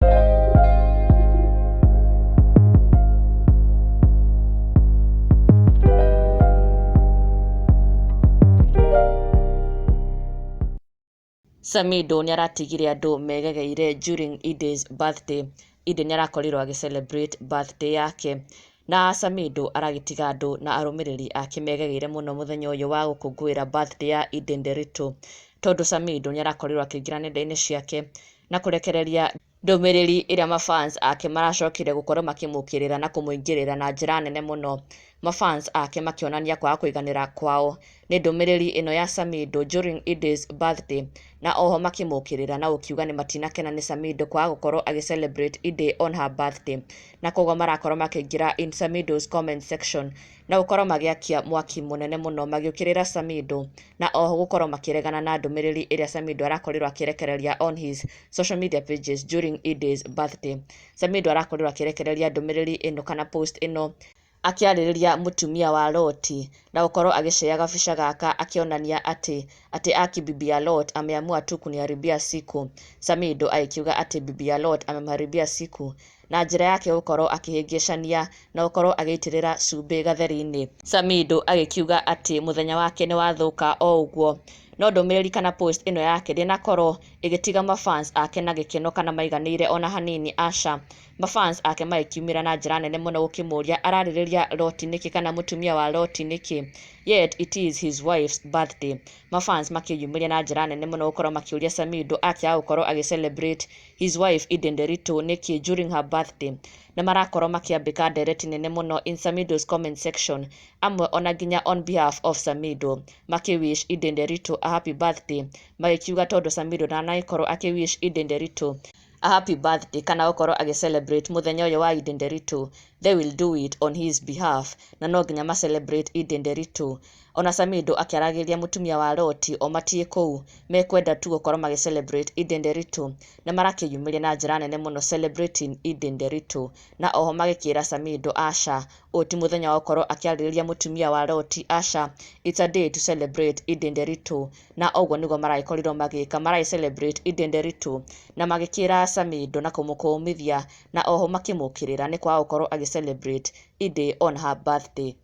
Samido nĩ aratigire andũ megegeire during Ida's birthday. Ida nĩ arakorirwo agĩ celebrate birthday yake. Na Samido aragĩtiga andũ na arũmĩrĩri ake megegeire mũno mũthenya ũyũ wa gũkũngũĩra birthday ya Ida Nderitu. Tondũ Samido nĩ arakorirwo akĩingĩra nenda-inĩ ciake na kũrekereria ndũmĩrĩri ĩrĩa mafans ake maracokire gũkorwo makĩmũkĩrĩra na kũmũingĩrĩra na njĩra nene mũno, mafans ake makĩonania kwaga kũiganĩra kwao nĩ ndũmĩrĩri ĩno ya Samido during Idays birthday na oho makĩmũkĩrĩra na gũkiuga nĩ matinakena nĩ Samido kwaga gũkorwo agĩ celebrate Iday on her birthday na koguo marakorwo makĩingĩra in Samido's comment section na gũkorwo magĩakia mwaki mũnene mũno magĩũkĩrĩra Samido na oho gũkorwo makĩregana na ndũmĩrĩri ĩrĩa Samido arakorirwo akĩrekereria on his social media pages during Idays birthday. Samido arakorirwo akĩrekereria ndũmĩrĩri ĩno kana post ĩno akĩarĩrĩria mũtumia wa Loti na gũkorwo agĩcea gabica gaka akĩonania atĩ atĩ aki bibi ya Lot ameamua tu kuniharibia siku. Samido agĩkiuga atĩ bibi ya Lot amemharibia siku na njĩra yake gũkorwo akĩhĩngĩcania na gũkorwo agĩitĩrĩra cumbĩ gatheri-inĩ. Samido agĩkiuga atĩ mũthenya wake nĩwathũka o ũguo. No ndũmĩrĩri kana post ĩno yake ndĩnakorwo ĩgĩtiga ma fans ake na gĩkeno kana maiganĩire ona hanini aca. Ma fans ake magĩkiumĩra na njĩra nene mũno gũkĩmũria ararĩrĩria Loti nĩkĩ kana mũtumia wa Loti nĩkĩ yet it is his wife's birthday. Ma fans makĩyumĩria na njĩra nene mũno gũkorwo makĩũria Samido akĩaga gũkorwo agĩ celebrate his wife Eden Nderitu nĩkĩ during her birthday na marakorwo makĩambĩka ndereti nene mũno in Samido's comment section amwe ona nginya on behalf of Samido makĩ wish Eden Nderitu a happy birthday magĩkiuga tondũ Samido ndanagĩkorwo akĩ wish Eden Nderitu a happy birthday kana gũkorwo agĩ celebrate mũthenya ũyũ wa Eden Nderitu they will do it on his behalf na no nginya ma celebrate Eden Nderitu Ona Samido akĩaragĩria mũtumia wa Loti o matiĩ kũu mekwenda tu gũkorwo magĩ celebrate Eid Nderitu na marakĩyumĩria na njĩra nene mũno celebrating Eid Nderitu na oho magĩkĩra Samido aca ũyũ ti mũthenya wa gũkorwo akĩarĩrĩria mũtumia wa Loti aca it's a day to celebrate Eid Nderitu na ũguo nĩguo maragĩkorirwo magĩka maragĩ celebrate Eid Nderitu na magĩkĩra Samido na kũmũkũũmithia na oho makĩmũkĩrĩra nĩ kwaga gũkorwo agĩ celebrate Eid on her birthday.